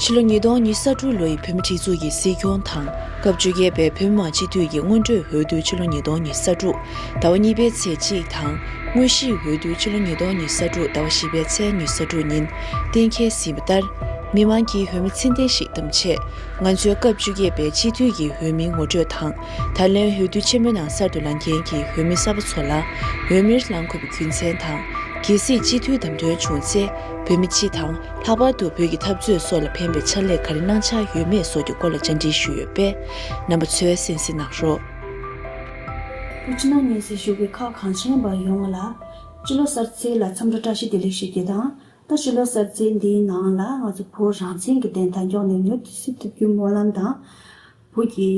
ཕྱི་ལོ་ཉིས་སྟོང་ཉིས་ས་དྲུག་ལོ་ཡི་བོད་མི་སྒྲིག་འཛུགས་ཀྱི་སྲིད་སྐྱོང་དང་སྐབས་བཅོ་བརྒྱད་པའི་བོད་མི་མང་སྤྱི་འཐུས་ཀྱི་སྔོན་འགྲོའི་འོས་བསྡུ་ཕྱི་ལོ་ཉིས་སྟོང་ཉིས་ས་དྲུག་ཟླ་བ་གཉིས་པའི་ཚེས་གཅིག་དང་དངོས་གཞིའི་འོས་བསྡུ་ཕྱི་ལོ་ཉིས་སྟོང་ཉིས་ས་དྲུག་ཟླ་བ་བཞི་པའི་ཚེས་ཉིས་ས་དྲུག་ཉིན་གཏན་འཁེལ་ཟིན་པ་ལྟར། མི་དམངས་ཀྱིས་བོད་མི་ཚེ་འདས་ཤིག་བདམས་ཆེད། ང་ཚོས་སྐབས་བཅུ་བརྒྱད་པའི་སྤྱི་འཐུས་ཀྱི་འོས་མི་ངོ་སྤྲོད་དང། ད་ལན་འོས་བསྡུ་ཆེན་མོའི་ནང་གསར་དུ་ལངས་མཁན་གྱི་འོས་མི་གསར་པ་ཚོ་ལ། འོས་མིར་ལངས་དགོས་པའི་རྒྱུ་མཚན་དང། གལ་སྲིད་སྤྱི་འཐུས་བདམས་ཐོན་བྱུང་ཚེ། བོད་མི་སྤྱི་དང་ལྷག་པར་དུ་བོད་ཀྱི་འཐབ་རྩོད་སོགས་ལ་ཕན་པའི་ཕྱག་ལས་ག་རེ་གནང་འཆར་ཡོད་མེད་སོགས་ཀྱི་སྐོར་ལ་བཅར་འདྲི་ཞུས་ཡོད་པས། རྣམ་པ་ཚོས་གསན་གཟིགས་གནང་རོགས། བོད་ཕྱི་ནང་གཉིས་སུ་བཞུགས་པའི་ཁག་གང་ཆེན་པ་ཡོངས་ལ། སྤྱི་ལོ་གསར་ཚེས་ལ་མཚམས་རེ་བཀྲ་ཤིས་བདེ་ལེགས་ཞུ་རྒྱུ་དང། ད་སྤྱི་ལོ་གསར་ཚེས་འདིའི་ནང་ལ་ང་ཚོ་བོད་རང་བཙན་གྱི་བདེན་མཐའ་མགྱོགས་ནས་མྱུར་དུ་སྲིད་ཐུབ་རྒྱུའི་སྨོན་ལམ་དང། བོད་ཀྱི་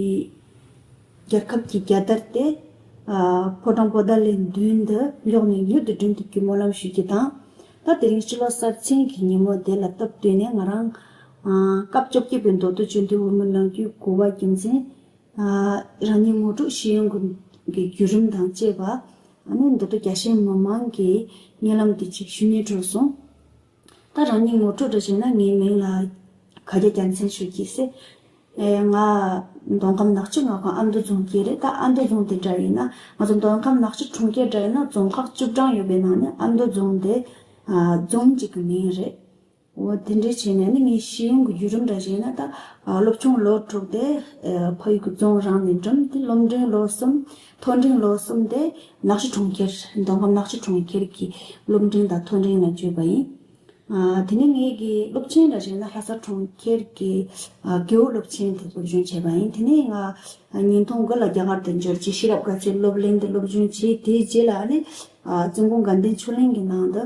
རྒྱལ་ཁབ་ཀྱི་རྒྱལ་དར་དེ། ཕོ་བྲང་པོ་ཏཱ་ལའི་མདུན་དུ་མགྱོགས་ནས་མྱུར་དུ་བསྒྲེངས་ཐུབ་རྒྱུའི་སྨོན་ལམ་ཞུ་རྒྱུ་དང། ད་དེ་རིང་སྤྱི་ལོ་གསར་ཚེས་ཀྱི་ཉིན་མོ་དེ་ལ་སྟབས་བསྟུན་ནས་ང་རང། སྐབས་བཅོ་བརྒྱད་པའི་མདོ་སྟོད་བཅོས་སྒྲིག་འོས་མི་གནང་རྒྱུའི་གོ་བ་རྒྱུ་མཚན། རང་ཉིད་ངོ་དྲུག་ཤེས་ཡོན་ཀུན་གྱི་བརྒྱུད་རིམ་དང་བཅས་པ། མདོ་སྟོད་རྒྱ་ཤེས་མི་མང་གི་སྙན་ལམ་དེ་ཅིག་ཞུ་སྙན་སྤྲོད་སོང། ད་རང་ཉིད་ངོ་དྲུག་འདྲ་བྱས་ན་ངའི་མིང་ལ་ག་རྒྱ་རྒྱ་མཚན་ཞུ་གྱིས་སེ། ང་མདོ་ཁམས་ནག་ཆུ་མངའ་ཁོངས་ཨ་མདོ་རྫོང་གི་རེད་ད་ཨ་མདོ་རྫོང་དེ་འདྲ་ཡིན་ན་ང་ཚོ་མདོ་ཁམས་ནག་ཆུ་གྲོང་ཁྱེར་འདྲ་ཡིན་ན་རྫོང་ཁག་བཅུ་གྲངས་ཡོད་པའི་ནང་ནས་ཨ་མདོ་རྫོང་དེ་རྫོང་གཅིག་གི་མིང་རེད། འོ་དེ་འདྲས་བྱས་ན་ནི་ངའི་ཤེས་ཡོན་གྱི་བརྒྱུད་རིམ་འདྲ་བྱས་ན་ད་སློབ་ཆུང་ལོ་དྲུག་དེ་ཕ་ཡུལ་གྱི་རྫོང་རང་ནས་འགྲིམས་ཏེ་སློབ་འབྲིང་ལོ་གསུམ་མཐོ་འབྲིང་ལོ་གསུམ་དེ་ནག་ཆུ་གྲོང་ཁྱེར་མདོ་ཁམས་ནག་ཆུ་གྲོང་ཁྱེར་གྱི་སློབ་འབྲིང་དང་མཐོ་འབྲིང་ལ་བསྐྱོད་པ་ཡིན། དེ་ནས་ངའི་དགེ་སློབ་ཆེན་འདྲ་བྱས་ན་ལྷ་ས་གྲོང་ཁྱེར་གྱི་དགེ་འོས་སློབ་ཆེན་དེ་སློབ་སྦྱོང་བྱས་པ་ཡིན། དེ་ནས་ང་ཉིས་སྟོང་དགུ་ལ་རྒྱ་གར་དུ་འབྱོར་རྗེས་ཤེས་རབ་དགའ་ཚལ་སློབ་གླིང་དུ་སློབ་སྦྱོང་བྱས་དེའི་རྗེས་ལ་ནི་བཙུན་དགོན་དགའ་ལྡན་ཆོས་གླིང་གི་ནང་དུ་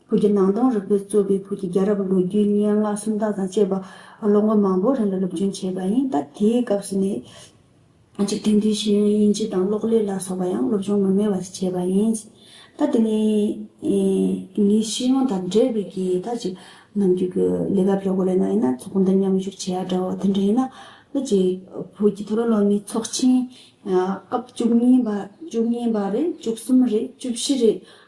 བོད་ཀྱི་ནང་དོན་རིག་པའི་གཙོས་པའི་བོད་ཀྱི་རྒྱལ་རབས་ལོ་རྒྱུས་སྙན་ངག་སུམ་རྟགས་དང་བཅས་པ་ལོ་ངོ་མང་པོའི་རིང་ལ་སློབ་སྦྱོང་བྱས་པ་ཡིན། ད་དེའི་སྐབས་སུ་ནི། འཇིག་རྟེན་འདིའི་ཤེས་ཡོན་དབྱིན་ཇི་དང་གློག་ཀླད་ལ་སོགས་པ་ཡང་སློབ་སྦྱོང་མི་དམན་བ་ཞིག་བྱས་པ་ཡིན། ད་དེ་ནི། ངའི་ཤེས་ཡོན་དང་འབྲེལ་བའི་གི་ད་ཅིག་ནམ་རྒྱུན་གྱི་ལས་ཀ་ཕལ་བ་ལས་ན་ཡིན་ན་ཚོགས་འདུ་མཉམ་ཞུགས་བྱས་ཡ་འདྲ་བ་དེ་འདྲ་ཡིན། ད་ཅིག་བོད་ཀྱི་ཐོ་རངས་སློབ་མའི་ཚོགས་ཆེན། སྐབས་བཅུ་གཉིས་པ་བཅུ་གཉིས་པ་རེད་བཅུ་གསུམ་རེད་བཅུ་བཞི་རེད་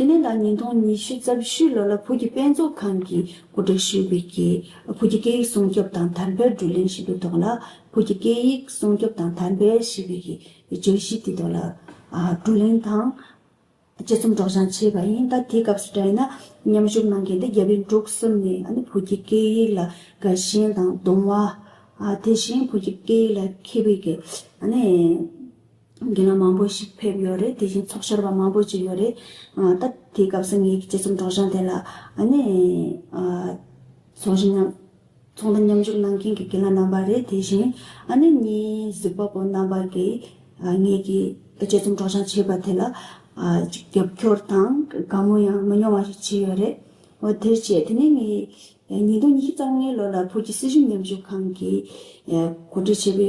དེ་ནས་ད་ཉིས་སྟོང་ཉི་ཤུ་རྩ་བཞི་ལོ་ལ་བོད་ཀྱི་དཔེ་མཛོད་ཁང་གི་སྐུ་དྲག་ཤིན་བྷི་ཀྱིས་བོད་ཀྱི་སྐད་ཡིག་སྲུང་སྐྱོབ་དང་དར་འཕེལ་བསྒྲུབ་གླེང་ཞིག་གི་ཐོག་ལ་བོད་ཀྱི་སྐད་ཡིག་སྲུང་སྐྱོབ་དང་དར་འཕེལ་ཞི་བྷི་ཀྱི་བརྗོད་གཞི་དེ་ཐོག་ལ་བསྒྲུབ་གླེང་དང། དཔྱད་རྩོམ་སྒྲོག་སྦྱང་བྱས་པ་ཡིན། ད་དེའི་སྐབས་སུ་བལྟས་ན་མཉམ་ཞུགས་གནང་མཁན་དེ་རྒྱ་བལ་འབྲུག་གསུམ་ནས་བོད་ཀྱི་སྐད་ཡིག་ལ་དགའ་ཞེན་དང་གདུང་བ། དེ་བཞིན་བོད་ཀྱི་སྐད་ཡིག་ལ་མཁས་པའི། འགན་ལ་མང་པོ་ཞིག་ཕེབས་ཡོད་རེད་དེ་བཞིན་ཚོགས་བཅར་བ་མང་པོ་ཅིག་ཡོད་རེད་ད། དེའི་སྐབས་སུ་ངེད་ཀྱི་སྤྱི་ཚོགས་སྒྲོག་སྦྱང་དེ་ལ་ནི། ཚོགས་ཞུགས་མཉམ། ཚོགས་འདུ་མཉམ་ཞུགས་གནང་མཁན་གྱི་འགན་ལ་རྣམ་པ་རེད་དེ་བཞིན་ནི་གཉིས་གཟིགས་པ་པོ་རྣམ་པ་གིས་ངེད་ཀྱི་སྤྱི་ཚོགས་སྒྲོག་སྦྱང་བྱས་པ་དེ་ལ། རྒྱབ་སྐྱོར་དང་དགའ་མོ་ཡང་མི་ཉུང་བ་ཞིག་བྱས་ཡོད་རེད། འོ་དེར་བྱས་དེ་ནི་ངས་ཉིས་སྟོང་ཉི་ཤུ་རྩ་ལྔའི་ལོ་ལ་བོད་ཀྱི་སྲིད་གཞུང་མཉམ་ཞུགས་ཁང་གིས་གོ་སྒྲིག་བྱས་པའི་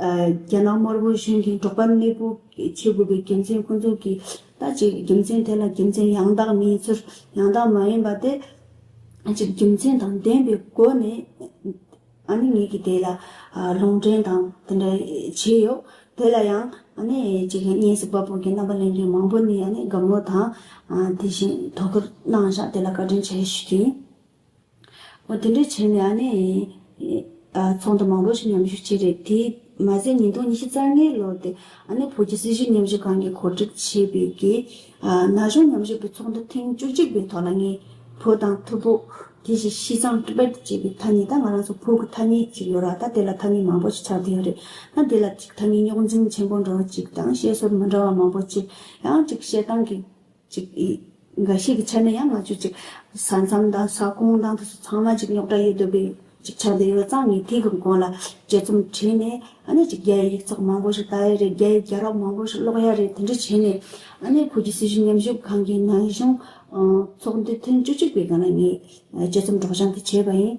རྒྱ་ནག་དམར་པོའི་གཞུང་གིས་འབྲོག་པར་གནས་སྤོ་བྱེད་དགོས་པའི་དགེ་མཚན་ཀུན་རྫོབ་ཀྱི་ལྟ་ཅི་དགེ་མཚན་དེ་ལ་དགེ་མཚན་ཡང་དག་མིན་ཚུལ་ཡང་དག་མ་ཡིན་པ་སྟེ། ཅི་དགེ་མཚན་དང་ལྡན་པའི་སྒོ་ནས་ཨ་ནི་ངེད་ཀྱིས་དེ་ལ་ལུང་འདྲེན་དང་དེ་འདྲ་བྱས་ཡོད། དེ་ལ་ཡང་ཨ་ནི་ཅི་དགེ་གཉེན་སྲིད་པ་པོ་གྱི་རྣམ་པ་ལེན་མཁན་མང་པོ་ནས་ཨ་ནི་དགའ་མོ་དང་དེ་བཞིན་དོ་ཁུར་གནང་བཞག་དེ་ལ་བཀའ་དྲིན་ཆེ་ཞུ་གིན། འོ་དེ་འདྲ་བྱས་ནས་ཨ་ནེ། ཚོགས་འདུ་མང་པོ་ཞིག་མཉམ་ཞུགས་བྱས་རེད། དེས་མ་ཟད་ཉིས་སྟོང་ཉི་བཞི་རྩ་ལྔའི་ལོར་དེ་ཨ་ནེ་བོད་ཀྱི་སྲིད་ཞུགས་མཉམ་ཞུགས་ཁང་གིས་གོ་སྒྲིག་བྱས་པའི་རྒྱའི་ན་གཞོན་མཉམ་ཞུགས་པའི་ཚོགས་འདུ་ཐེངས་བཅུ་གཅིག་པའི་ཐོག་ལ་ངས་བོད་དང་ཐུ་བྷོད། དེ་བཞིན་བྱི་ཚང Tibet ཅེས་པའི་ཐ་སྙད་དང་ང་རང་ཚོ་བོད་ཀྱི་ཐ་སྙད་ཅིག་ཡོད་ར་ད་དེ་ལ་ཐ་སྙད་མང་པོ་ཞིག་ཆགས་བསྡད་ཡོད་རེད་ན་དེ་ལ་ཅིག་ཐ་སྙད་རྙོག་འཛིང་ཆེན་པོ་འགྲོ་བ་ཅིག་དང་བཤད་སྲོལ་མི་འདྲ་བ་མང་པོ་ཅིག་ཡང་ཅིག་བཤད་སྟངས་ཀྱི་ཅིག། འགའ་ཞིག་གི་ཆ་ནས་ཡང་མ་བཅོས་ཅིག། ས་མཚམས་དང་ས་ཁོངས་དང་དུས་ཚོད་ཚང་མ་ཅིག་རྙོག་དྲ་ཡོད་དགོས་ཀྱི་ཅིག་ཆ་འདི་ཡོད་ཙང་ངས་དེའི་གི་གོང་ལ་དཔྱད་རྩོམ་བྲིས་ནས་ཨ་ནེ་ཅིག་རྒྱ་ཡི་ཡིག་ཚགས་མང་པོ་ཞིག་བལྟ་ཡ་རེད་རྒྱ་ཡི་རྒྱ་རོགས་མང་པོ་ཞིག་ཀློག་ཡ་རེད་དེ་འདྲ་བྱས་ནས་ཨ་ནེ་བོད་ཀྱི་སྲིད་གཞུང་མཉམ་ཞུགས་ཁང་གི་ནང་གཞུང་ཚོགས་འདུ་ཐེངས་བཅུ་གཅིག་པའི་སྒང་ལ་ངས་དཔྱད་རྩོམ་སྒྲོག་སྦྱང་དེ་བྱས་པ་ཡིན།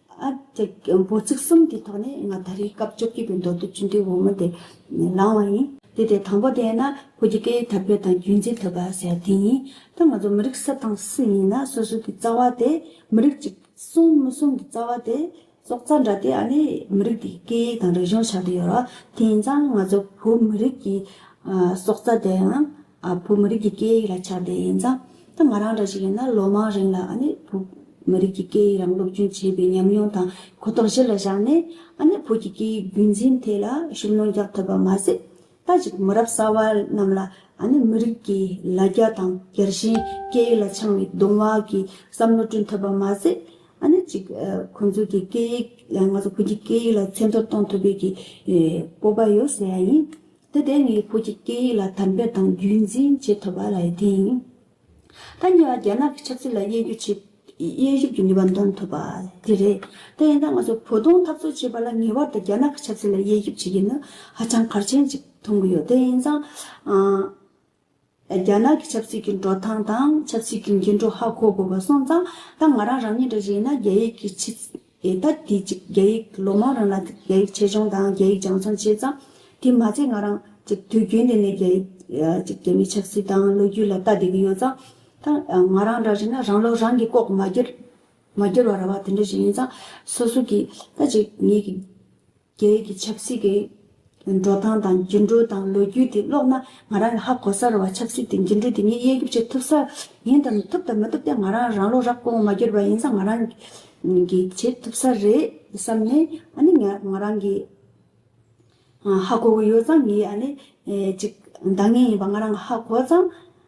འབོ་ཚིགས་གསུམ་གྱི་ཐོག་ནས་ང་ད་རེས་སྐབས་བཅོ་བརྒྱད་པའི་མདོ་སྡེ་བཅུ་འདྲིལ་བུ་མོ་དེ་བླངས་བ་ཡིན། དེ་དེ་དང་པོ་དེ་ན་བོད་ཀྱི་སྐད་ཡིག་དར་སྤེལ་དང་རྒྱུན་འཛིན་ཐུབ་པ་ཟེར་དེ་ཡིན། ད་ང་ཚོ་མི་རིགས་སུ་དང་སུ་ཡིན་ན་སོ་སོ་གི་རྩ་བ་དེ་མི་རིགས་གཅིག་གསུང་མི་གསུང་གི་རྩ་བ་དེ་སྲོག་རྩ་འདྲ་དེ་ཨ་ནི་མི་རིགས་དེའི་སྐད་ཡིག་དང་རིག་གཞུང་ཆགས་ཏེ་ཡོད་རོགས་དེ་ཡིན་ཙང་ང་ཚོ་བོད་མི་རིགས་ཀྱི་སྲོག་རྩ་དེའང་བོད་མི་རིགས་ཀྱི་སྐད་ཡིག་ལ་ཁྱབ་བརྡལ་ཡིན་ཙང་ད་ང་རང་འདྲ་ཞིག་ཡིན་ན་ལོ་མང་རིང་ལ་བོད་མི་རིགས་ཀྱི་སྐད་ཡིག་རང་སློབ་སྦྱོང་བྱས་པའི་ཉམས་མྱོང་དང་གོ་རྟོགས་གཞི་ལ་བཞག་ནས་བོད་ཀྱི་སྐད་ཡིག་རྒྱུན་འཛིན་ཐད་ལ་ཤུགས་སྣོན་རྒྱག་ཐུབ་པ་མ་ཟད། ད་ཅིག་མི་རབས་གསར་བ་རྣམས་ལ་མི་རིགས་ཀྱི་ལ་རྒྱ་དང་རྒྱལ་ཞེན་སྐད་ཡིག་ལ་འཆང་བའི་གདུང་བ་གྱི་བསམ་བློ་བསྐྲུན་ཐུབ་པ་མ་ཟད། ཅིག་ཁོང་ཚོ་གི་སྐད་ཡིག་ང་ཚོ་བོད་ཀྱི་སྐད་ཡིག་ལ་ཚད་མཐོ་གཏོང་ཐུབ་པའི་སྤོབས་པ་ཡོད་ཟེར་བ་ཡིན། དེ་ལྟའི་ངའི་བུ་གཅིག་སྐད་ཡིག་ལ་དམ་པོས་དང་རྒྱུན་འཛིན་བྱེད་ཐུབ་པ་ལ་ཡི་དེ་ཡིན། ད་ཉེ་བར་རྒྱ་ནག་གི་ཆབ་སྲིད་ལ་དབྱེ་རྒྱུ་བྱེད། དབྱེ་ཞིབ་ཀྱི་ནུས་པ་འདོན་ཐུབ་པ་དེ་རེད། དེ་ཡིན་ན་ང་ཚོ་བོ་དོང་འཐབ་རྩོད་བྱེད་པ་ལ་ངེས་བར་དུ་རྒྱ་ནག་གི་ཆབ་སྲིད་ལ་དབྱེ་ཞིབ་བྱེད་རྒྱུ་ནི་ཧ་ཅང་གལ་ཆེན་གཅིག་མཐོང་གི་ཡོད་དེ་ཡིན་ཙང། རྒྱ་ནག་གི་ཆབ་སྲིད་ཀྱི་འགྲོ་སྟངས་དང་ཆབ་སྲིད་ཀྱི་འགྱུར་འགྲོ་ཧ་གོ་དགོས་པ་སོང་ཙང་ད་ང་རང་རང་ཉིད་འདྲ་བཞིན་ན་རྒྱ་ཡིག་གི་ཕྱི་ད་དེ་གཅིག་རྒྱ་ཡིག་ལོ་མང་རིང་ལ་རྒྱ་ཡིག་ཆེད་སྦྱོང་དང་རྒྱ་ཡིག་སྦྱང་བརྩོན་བྱས་ཙང་དེ་མ་ཚད་ང་རང་གཅིག་དུས་རྒྱུན་དེ་ནས་རྒྱ་ཡིག་གཅིག་རྒྱ་མིའི་ཆབ་སྲིད་དང་ལོ་རྒྱུས་ལ་ལྟ་བསྡད་ཀྱི་ཡོད་ཙང་ད་ང་རང་འདྲ་བཞིན་ན་རང་ལོ་རང་གིས་ལྐོག་མ་གྱུར་བ་ར་བ་དེ་འདྲ་ཞིག་ཡིན་ཙང་སོ་སོ་གིས་ད་ཅིག་ངེད་ཀྱི། རྒྱ་ཡིག་གི་ཆབ་སྲིད་ཀྱི་འགྲོ་སྟངས་དང་འགྱུར་འགྲོས་དང་ལོ་རྒྱུས་དེ་ཀློག་ན་ང་རང་ལ་ཧ་གོ་ས་རེད་བ་ཆབ་སྲིད་དེ་འགྱུར་འགྲོས་དེ་ངས་དབྱེ་འགྱུར་བྱེད་ཐུབ་ས་ཡིན་དམ་ཐུབ་དང་མི་ཐུབ་དེ་ང་རང་རང་བློ་རག་པོ་ངོ་མ་འགྱུར་བ་ཡིན་ས་ང་རང་གི་བྱེད་ཐུབ་ས་རེད་བསམ་ནས་ཨ་ནི་ངས་ང་རང་གི་ཧ་གོ་གི་ཡོད་ཙང་ངས་ཨ་ནི་ཅིག་འདང་ངེས་ཡིན་པ་ང་རང་ཧ་གོ་ཙང།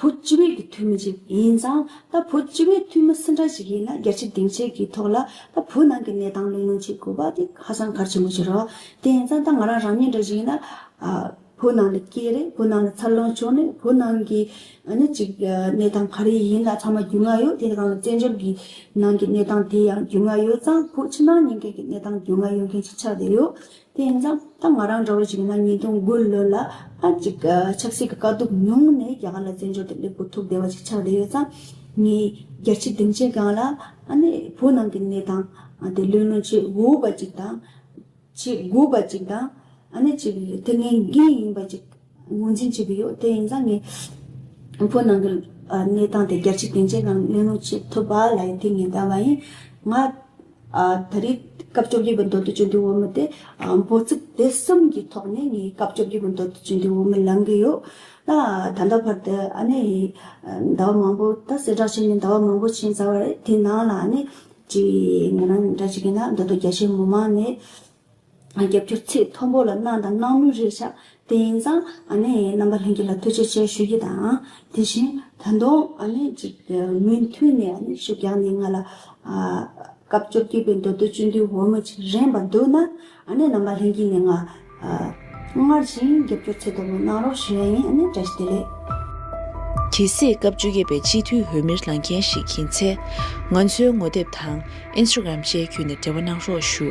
བུ་སྤྱི་བོད་ཀྱི་འཐུས་མི་ཅིག་ཡིན་ཙང་ད་བུ་སྤྱི་བོད་འཐུས་མི་སུ་འདྲ་ཞིག་ཡིན་ན་རྒྱ་ཆེ་སྡིངས་ཆེ་གི་ཐོག་ལ་ད་བུ་ནང་གི་གནས་སྟངས་གླེང་མོལ་བྱེད་དགོས་པ་དེ་ཧ་སང་གལ་ཆེན་པོ་ཞིག་རོགས་དེ་ཡིན་ཙང་ད་ང་རང་རང་ཉིད་འདྲ་ཞིག་ཡིན་ན། བུ་ནང་ལ་སྐྱེས་རེས་བུ་ནང་ལ་འཚར་ལོངས་བྱུང་ནས་བུ་ནང་གི་ནི་ཅིག་གནས་སྟངས་ག་རེ་ཡིན་ད་ཚང་མ་རྒྱུས་མངའ་ཡོད་དེ་ཡིན་ཙང་བཙན་བྱོལ་གྱི་ནང་གི་གནས་སྟངས་དེ་ཡང་རྒྱུས་མངའ་ཡོད་ཙང་བུ་ཕྱི་ནང་གཉིས་ཀའི་གནས་སྟངས་རྒྱུས་མངའ་ཡོད་མཁན་ཞིག་ཆགས་བསྡད་ཡོད་དེ་ཡིན་ཙང་ད་ང་རང་འདྲ་བ་ཞིག་ཡིན་ན་ཉིས་སྟོང་དགུ་ལོ་ལ་ཨ་ཅིག་ཆབ་སྲིད་ཀྱི་དཀའ་སྡུག་མྱོང་ནས་རྒྱ་གར་ལ་བཙན་བྱོལ་དུ་སླེབས་དགོས་ཐུག་བསྡད་པ་ཞིག་ཆགས་བསྡད་ཡོད་ཙང། ངས་རྒྱལ་སྤྱིའི་སྡིངས་ཆའི་སྒང་ལ་ཨ་ནེ་བོད་ནང་གི་གནས་སྟངས་དེ་ལུས་ལོན་བྱེད་དགོས་པ་ཅིག་དང། བྱེད་དགོས་པ་ཅིག་དང། ཨ་ནེ་ཅིག་དེ་ངའི་འགན་ཡིན་པ་ཅིག། ངོས་འཛིན་བྱེད་ཀྱི་ཡོད་དེ་ཡིན་ཙང་ངས་ཨུ་ཕུ་ནང་གི་གནས་སྟངས་དེ་རྒྱལ་སྤྱིའི་སྡིངས་ཆའི་ནང་གླེང་སློང་བྱེད་ཐུབ་པ་ལ་ཡང་ཐུགས་ངེས་འདའ་བ་ཡིན། ང་ད་རེས་སྐབས་བཅོ་བརྒྱད་པའི་མདོ་སྟོད་བཅུ་འདུལ་བོད་མི་དེ་འབོད་ཚིག་དེ་གསུམ་གྱི་ཐོག་ནས་ངས་སྐབས་བཅོ་བརྒྱད་པའི་མདོ་སྟོད་བཅུ་འདུལ་བོད་མི་ལང་གི་ཡོད། ད་ལྟ་བར་དུ་ཨ་ནེ་ཡིས་ཟླ་བ་མང་པོ་ད་གསལ་བསྒྲགས་བྱས་ནས་ཟླ་བ་མང་པོ་ཕྱིན་ཚར་བ་རེད་དེའི་ནང་ལ་ཨ་ནེ་ཀྱིས་ང་རང་འདྲ་བྱེད་ཀྱི་ན་མདོ་སྟོད་རྒྱ་ཆེའི་མི་མང་ནས་རྒྱབ་སྐྱོར་ཚིག་མཐོན་པོ་ལ་གནང་དང་གནང་ལུགས་རེད་ཤག་དེ་ཡིན་ཙང་རྣམ་པ་ལྷན་རྒྱས་ལ་ཐུགས་རྗེ་ཆེ་ཞུ་རྒྱུ་དང་དེ་བཞིན་ད་དུང་ཅིག་མུ་མཐུད་ནས་ཤུགས་རྒྱག་ནས་ང་ལ་སྐབས་བཅོ་བརྒྱད་པའི་མདོ་སྟོད་བཅུ་འདུལ་འོལ་མོ་ཆེ་རན་པ་འདུག་ན་རྣམ་པ་ལྷན་རྒྱས་ནས་ང་སྔར་བཞིན་རྒྱབ་སྐྱོར་ཚིག་མཐོན་པོ་གནང་རོགས་ཞུ་ཡ་ཡིན་བཀྲ་ཤིས་བདེ་ལེགས། དེ་སྲིད་སྐབས་བཅོ་བརྒྱད་པའི་སྤྱི་འཐུས་འོས་མིར་ལངས་མཁན་ཞིག་ཡིན་ཚེ། ང་ཚོའི་ངོ་དེབ་དང Instagram བཅས་བརྒྱུད་ནས་འབྲེལ་བ་གནང་རོགས་ཞུ།